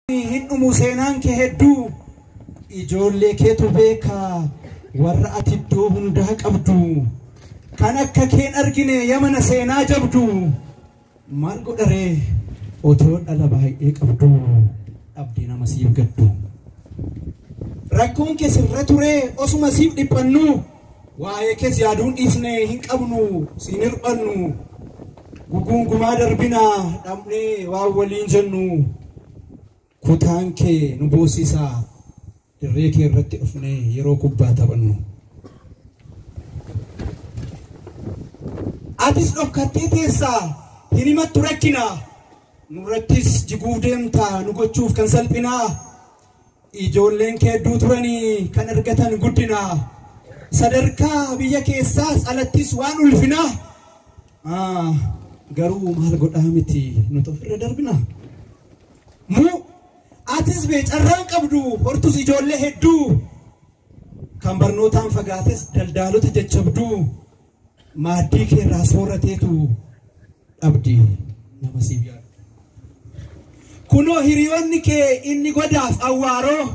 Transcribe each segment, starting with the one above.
hin dhumu seenaan kee hedduu ijoollee keetu beeka warra ati iddoo hundaa qabdu kan akka keen argine yamana seenaa jabdu maal godharee otoo dhala baay'ee qabdu dhabdee nama siif gaddu rakkoon kee sirra turee osuma siif dhiphannu Waa'ee kees yaaduu dhiifne hin qabnu siin hir'annu guguungumaa darbina dhabnee waan waliin jennu kutaan kee nu boossisa dirree kee irratti dhufne yeroo kubbaa taphannu. Atis dhokkattee teessa hin himattu rakkina nurrattis jiguuf deemta nu gochuuf kan salphinaa. Ijoolleen kee hedduu turanii kan argatan guddinaa sadarkaa biyya keessaas alattis waan ulfinaa Ah, garuu maal godhaa miti nuti ofirra darbina muu atis bee carraan qabdu hortus ijoollee hedduu kan barnootaan fagaates daldaalota jajjabduu maaddii kee irraa soorateetu dhabdi nama siif yaadu. Kunoo hiriyoonni kee inni godaaf awwaaroo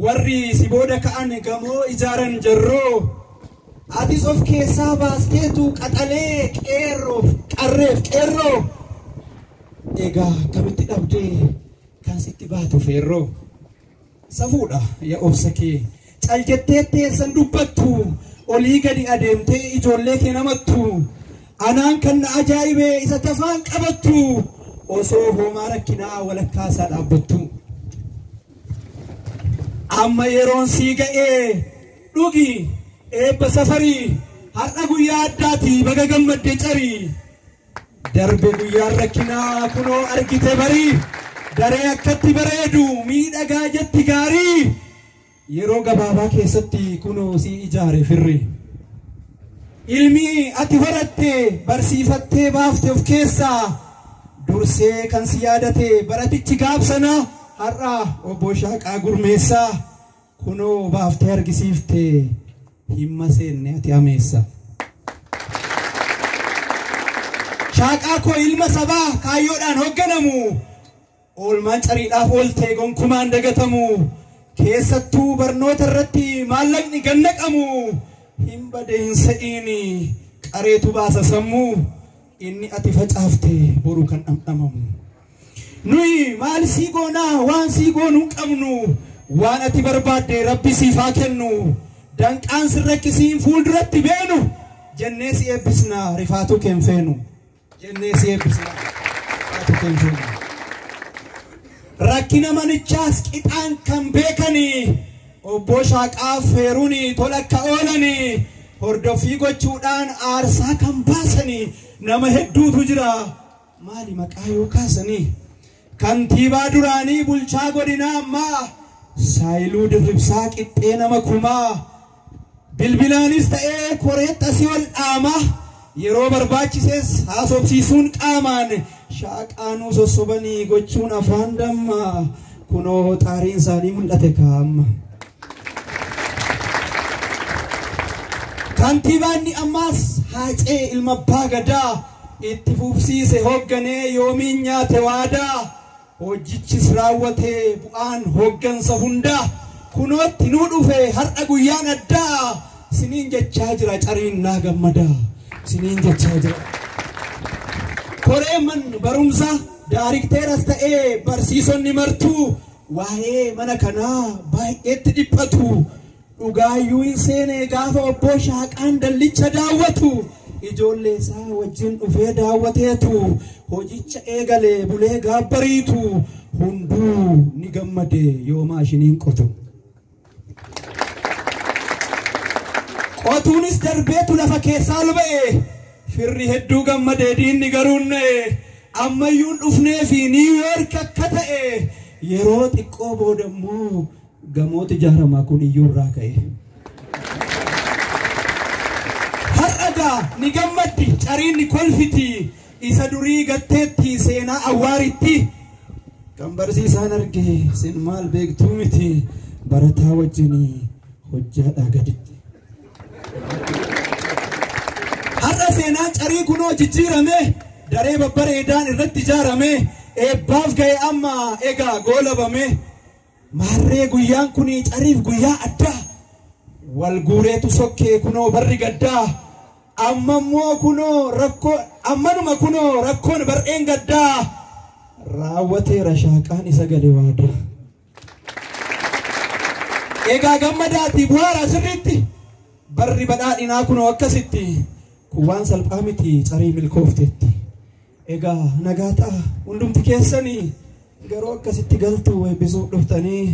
warri si booda ka'an gamoo ijaaran jarroo atis of keessaa baasteetu qaxalee qeerroof qarreef qeerroo egaa akkamitti dhabdee kan sitti baatu feerroo. Safuudha ya obsa kee. Cal jettee teessan dubbattu olii gadi adeemtee ijoollee kee namattu anaan kan na ajaa'ibe isa tafaan qabattu osoo hoomaa rakkinaa walakkaa isaa dhaabbattu. Amma yeroon sii ga'ee dhugi eebba safarii har'a guyyaa addaati baga gammadde carii Darbe guyyaan rakkinaa kunoo argite bari daree akkatti bareedu miidhagaa jetti gaarii yeroo gabaabaa keessatti kunoo si ijaare firri. Ilmi ati horatte barsiifattee baafte of keessaa dursee kan si yaadate baratichi gaabsana har'a obbo Shaaqaa Gurmeessaa. Kunoo baaftee argisiifte himma seenne ati ameessa. Shaaqaa koo ilma sabaa kaayyoodhaan hoogganamu oolmaan cariidhaaf ooltee gonkumaan dagatamu keessattuu barnoota irratti maallaqni gannaqamu hin bade hin se'iin qareetu baasa sammuu Inni ati facaafte boru kan dhamdhamamu. Nuyi maal sii goonaa waan sii goonuu hin qabnu. Waan ati barbaadde rabbi siif haa kennu. Danqaan sin rakkisiin fuulduratti beenu. Jennee si eebbisna rifaatuu keen feenu. Jennee si eebbisna rifaatuu keen feenu. Rakkina manichaas qixaan kan beekanii. Obboo Shaaqaaf heeruun tola akka oolan hordoffii gochuudhaan aarsaa kan baasan nama hedduutu jira. Maali maqaa yoo kaasan kantiibaa duraanii bulchaa godinaa ammaa Saayiluu Dirribsaa qixxee nama kumaa Bilbilaanis ta'ee koree xasii wal dhaamaa yeroo barbaachises haasofsiisuun qaamaan shaaqaa nuu sossobanii gochuun afaan dammaa kunoo xaariin isaanii mul'ate kaa amma. Kantiibaan ni ammaas haacee ilma abbaa gadaa itti fufsiise hoogganee yoomiin nyaate waadaa. Hoojjichis raawwatee bu'aan hooggansa hundaa kunootti nuu dhufe har'a guyyaan addaa siniin jechaa jira cariin naa gammadaa siniin jechaa jira. Koree man barumsa daarikteeras ta'ee barsiisonni martuu waa'ee mana kanaa baay'eetti dhiphatu. Dhugaayyuu hin seenee gaafa obboo shaaqaan dallicha daawwatu ijoollee isaa wajjin dhufee daawwateetu hojicha eegalee bulee gaabbariitu hunduu ni gammade yoo maashiniin qotu. Qotuunis darbeetu lafa keessaa ol ba'e firri hedduu gammade diinni garuu na'e ammayyuun dhufnee fi niiwuyoorki akka ta'e yeroo xiqqoo booda immoo gamooti jahramaa kun iyyuu irraa ka'e. Har'a gaa ni gammaddi cariin ni kolfiti isa durii gatteetti seenaa awwaaritti. Kan barsiisaan arge sin maal beektuu miti barataa wajjinii hojjaadhaa gaditti. Har'a seenaan carii kunoo jijjiirame daree babbareedaan irratti ijaarame eebbaaf ga'e amma egaa goolabame Maarree guyyaan kun cariif guyyaa addaa Wal guureetu sokkee kunoo barri gaddaa Amma immoo kunoo rakkoo ammanuma kunoo rakkoon bar'een gaddaa Raawwateera shaaqaan isa gale waadaa Egaa gammadaatii bu'aaraa sirriitti Barri badhaadhinaa kunoo akkasitti Kun waan salphaa miti carii milkoofteetti Egaa nagaa ta'a hundumti keessanii garuu akkasitti galtu eebbisuuf dhuftanii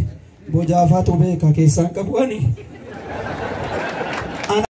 bojaafaatu beeka keessaan qabu ani.